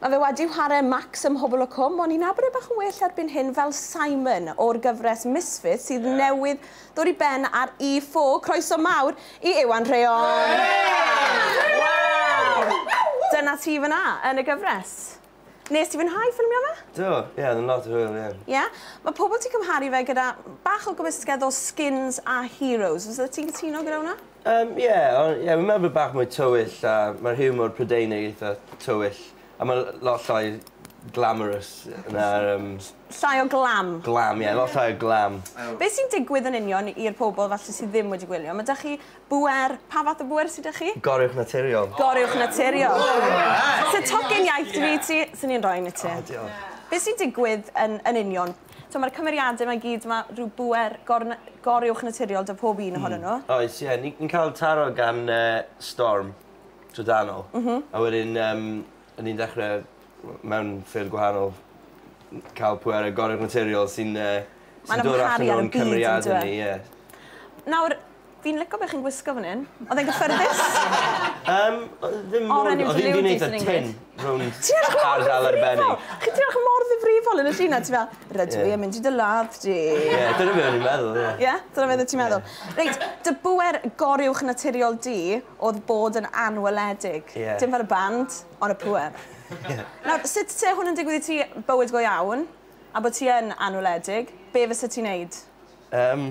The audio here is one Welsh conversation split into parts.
Mae fe wedi whare Max ym Mhobol y Cwm, ond ni'n abod e bach yn well erbyn hyn fel Simon o'r gyfres Misfits sydd newydd ddod i ben ar E4. Croeso mawr i Iwan Rheon! Dyna ti fan'na, yn y gyfres. Wnest ti fwynhau ffilmio fe? Do, ie, oedd yn lot o hwyl, ie. Ie? Mae pobl ti'n cymharu fe gyda bach o gymysgedd o Skins a Heroes. Fysa ti'n cytuno gyda hwnna? Yym ie o- ie fi'n meddwl bo' bach mwy tywyll a ma'r hiwmor Prydeinig eitha tywyll a ma' l- lot llai glamorous na'r yym... Llai o glam. Glam ie lot llai o glam. Be' sy'n digwydd yn union i'r pobol falle sy ddim wedi gwylio? Ma' 'da chi bŵer, pa fath o bŵer sy 'da chi? Goruwch naturiol. Goruwch naturiol. Sa tocyn iaith 'da fi i ti, swn i'n roi un i ti. O diolch. Be' sy'n digwydd yn yn union? T'mo' ma'r cymeriade 'ma i gyd ma' rhyw bŵer gorn- goruwchnaturiol 'da pob un ohonyn n'w. Hmm oes ie ni ni'n ca'l taro gan yy Storm trydanol. M-hm. A wedyn yym 'yn ni'n dechre w- mewn ffyrdd gwahanol n- ca'l pwerau goruwchnaturiol sy'n yy sy'n dod allan o'n cymeriade ni ie. Nawr Fi'n lico be chi'n gwisgo fan hyn. Oedd e'n gyffyrddus? Yym, oedd e ddim mor... Oren yw dy liwdys yn English. Oedd hi'n neud y tin rownd Ti edrych mor ddifrifol! ...ardal arbennig. Chi ti edrych mor ddifrifol yn y llun 'na ti fel rydw i... Ie. ...yn mynd i dy ladd di. Ie, dyna be o'n i'n meddwl, ie. Ie? Dyna beth o' ti'n meddwl? Ie. Reit, dy bŵer goruwch naturiol di o'dd bod yn anweledig. Ie. Dim fel y band, on' y pŵer. Ie. Nawr, sut se hwn yn digwydd i ti, bywyd go iawn, a bo' ti yn anweledig, be' fysa ti'n neud? Yym,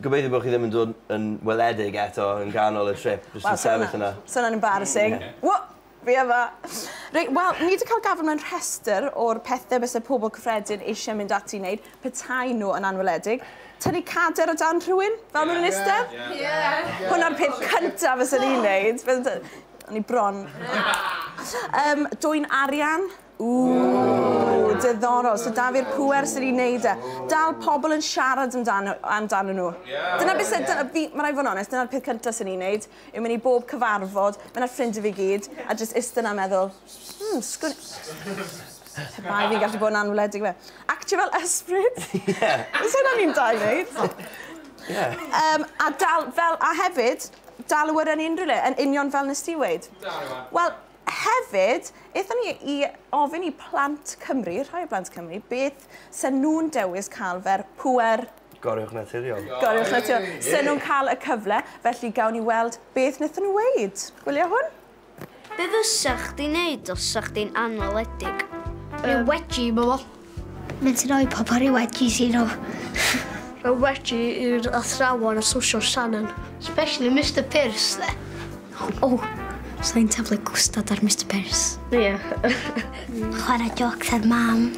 Gobeithio bo' chi ddim yn dod yn weledig eto yn ganol y trip jyst yn sefyll yna. Sa wnna'n embarrassing. Wha! Fi yma! Reit wel ni 'di ca'l gafel mewn rhestr o'r pethe byse pobol cyffredin eisie mynd ati i neud petaen nhw yn anweledig. Tynnu cader o dan rhywun fel ma' nhw'n istedd. Ie! Hwnna'r peth cynta fysen i'n neud. O'n i bron. Yym dwyn arian. Ww, diddorol. So da fi'r pwer sy'n ei wneud e. Dal pobl yn siarad amdano, amdano nhw. Yeah, dyna beth sy'n... Yeah. Fi, mae rhaid fod yn onest, dyna'r peth cyntaf sy'n ei wneud, yw mynd i bob cyfarfod, mynd â'r ffrindiau fi gyd, a jyst ista na meddwl, hmm, sgwn... Pe bai fi'n gallu bod yn anwledig fe. Actio fel ysbryd. Ie. Os hynna ni'n da i wneud. Ie. Um, a, dal, fel, a hefyd, dal y wyrra yn unrhyw le, yn union fel nes ti weid. Wel, Hefyd, aethon ni i ofyn i plant Cymru, rhai o blant Cymru, beth se nhw'n dewis cael fer pŵer... Goruwch naturiol. Goruwch naturiol. Se nhw'n cael y cyfle, felly gawn ni weld beth wnaethon nhw weud. Gwylio hwn. Be fysa chdi'n neud os 'sa chdi'n anweledig? Dwi wedi bod. Mae'n sy'n rhoi pobl rhyw wedges i nhw. Mae wedi i'r athrawon a sosial Shannon. Especially Mister Pearce dde. O, oh, so i'n taflu gwstad ar Mister Pearce. Ie. Yeah. Chwarae joc ar mam.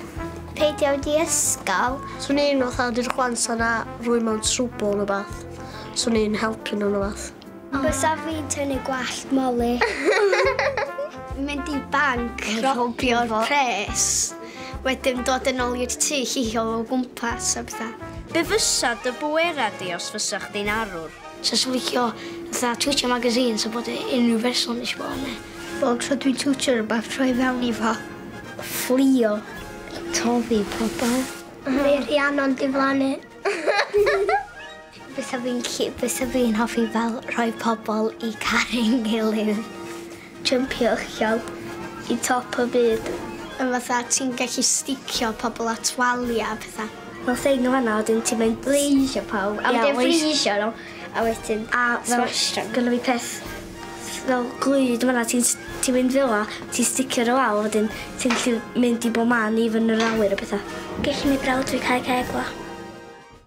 Peidio wedi ysgol. Swn i'n fatha di'r chwans yna rwy mewn trwbl yn y bath. Swn i'n helpu nhw'n y bath. Bysa fi'n tynnu gwallt Molly. Mynd i banc, robio'r pres, wedyn dod yn ôl i'r tŷ llihio o gwmpas a bethau. Be fysa dy bwera di os fysa chdi'n arwr? Sa i'n licio fatha twtio magazines a bod e unrhyw berson eisiau bod arni. Bob tro dwi'n twtio rhywbeth, troi fewn i fo. Fflio. Toddi pobl. Neu Rhiannon diflannu. Bysa fi'n gallu, bysa fi'n hoffi fel rhoi pobl i caru'n gilydd. Jympio uchel i top y byd. A fatha ti'n gallu sticio pobl at walia a petha. Fel thing yn fanna a wedyn ti'n mynd freezio pawb a wedyn freezio nhw a wedyn smashio nhw. Gynna fi peth fel glud yn fanna ti'n s- ti'n mynd fela ti'n sticio nhw lawr wedyn ti'n gallu mynd i bob man even yr awyr a petha. Gellu neud brawd fi cau ceg fo.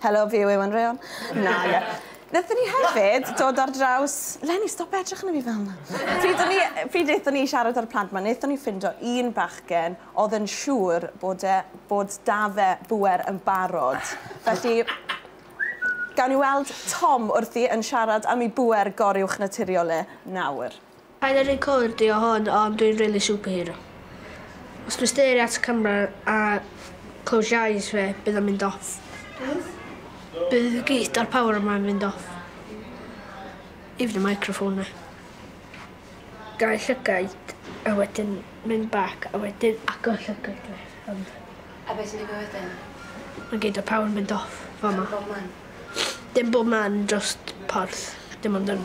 Helo fi yw Iwan Rheon. Na ie. Nethon ni hefyd dod ar draws... Leni stop edrych arno fi fel 'na. Pryd o'n ni yy pryd nethon ni siarad â'r plant 'ma nethon ni ffindo un bachgen o'dd yn siŵr bod e bod 'da fe bŵer yn barod felly gawn ni weld Tom wrthi yn siarad am 'i bŵer goruwchnaturiol e nawr. Paid a recordio hwn ond dwi'n rili superhero. Os dwi'n stario at y camera a close your eyes fe bydd o'n mynd off. Bydd git o'r power yma yn mynd off. Even y microphone 'na. Gau llygaid a wedyn mynd back a wedyn agor llygaid fi ond... A be' sy'n digwydd wedyn? Ma' gyd o'r power yn mynd off fama. Dim bob man. Dim bob man drost porth dim ond yn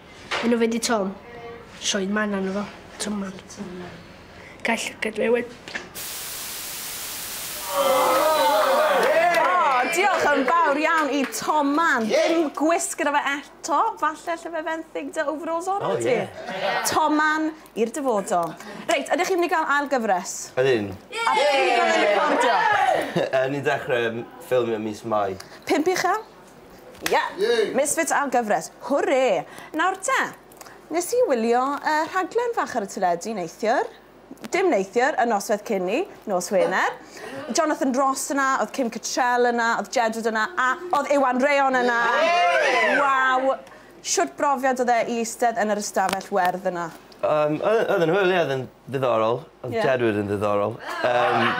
Enw fe di Tom. Sioed man arno fo. Tom man. Tom man. Gall llygad fe wed. Diolch yn fawr iawn i Tom Man. Dim gwisg gyda fe eto. Falle lle fe fenthyg dy overalls o'r oh, ti. Yeah. Tom Man i'r dyfodol. Reit, ydych chi'n mynd i gael ail gyfres? Ydyn. A beth ydych chi'n recordio? Ni'n dechrau ffilmio mis Mai. Pimp uchel? Ie! Misfits ar gyfres! Hwrê! Nawr te, nes i wylio y rhaglen fach ar y teledu neithiwr, dim neithiwr, y nosweth cyn 'ny, nos Wener. Jonathan Ross yna, oedd Kim Cattrall yna, oedd Jedward yna, a oedd Iwan Rheon yna! Waw! Shwt brofiad oedd e i eistedd yn yr ystafell werdd yna? Yym, oedd, oedd e'n hwyl, ie, oedd e'n ddiddorol. Oedd Jedward yn ddiddorol. Yym,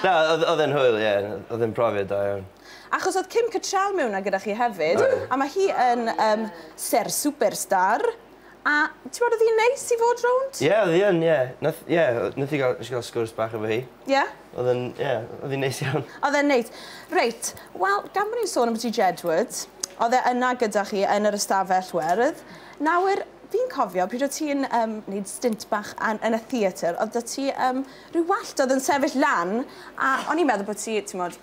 na, oedd, oedd e'n hwyl, ie, oedd e'n profiad da iawn. Achos oedd Kim Cattrall mewn 'na gyda chi hefyd, a mae hi yn um, ser superstar, a ti'n bod oedd hi'n neis i fod rownd? Ie, yeah, oedd hi yn, ie. Yeah. Nath, yeah, nath i gael, gael sgwrs bach efo hi. Ie? Yeah? Oedd yn, ie, yeah, oedd hi'n neis iawn. Oedd e'n neis. Reit, wel, gan bod ni'n sôn am ti Jedward, oedd e yna gyda chi yn yr ystafell werdd. Nawr, fi'n cofio pryd o ti'n um, neud stint bach an, yn y theatr, oedd da ti um, Rhyw wallt oedd yn sefyll lan a o'n i'n meddwl bod ti, timod,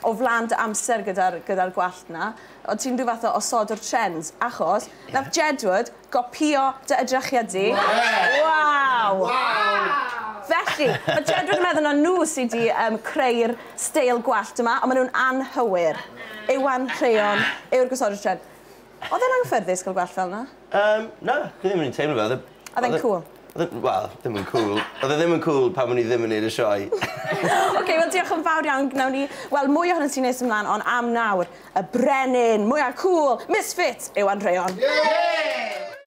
o flan dy amser gyda'r gyda'r gwallt 'na. O't ti'n rhyw fath o osodwr trends, achos nath Jedward gopïo dy edrychiad di. Waw! Felly, ma' Jedward yn meddwl na nhw sy 'di yym creu'r steil gwallt yma, ond ma' nhw'n anghywir. Iwan Rheon yw'r gosodwr trend. Oedd e'n anghyffyrddus cael gwallt fel 'na? Yym, na, fi ddim yn rili teimlo fe. Oedd e Odd e'n cŵl? Odd e wel ddim yn cŵl. Odd e ddim yn cŵl pan o'n i ddim yn neud y sioe. Oce wel diolch yn fawr iawn gnawn ni weld mwy ohonot ti nes ymlan on' am nawr y brenin mwya cŵl Misfits yw Andreon. Yay!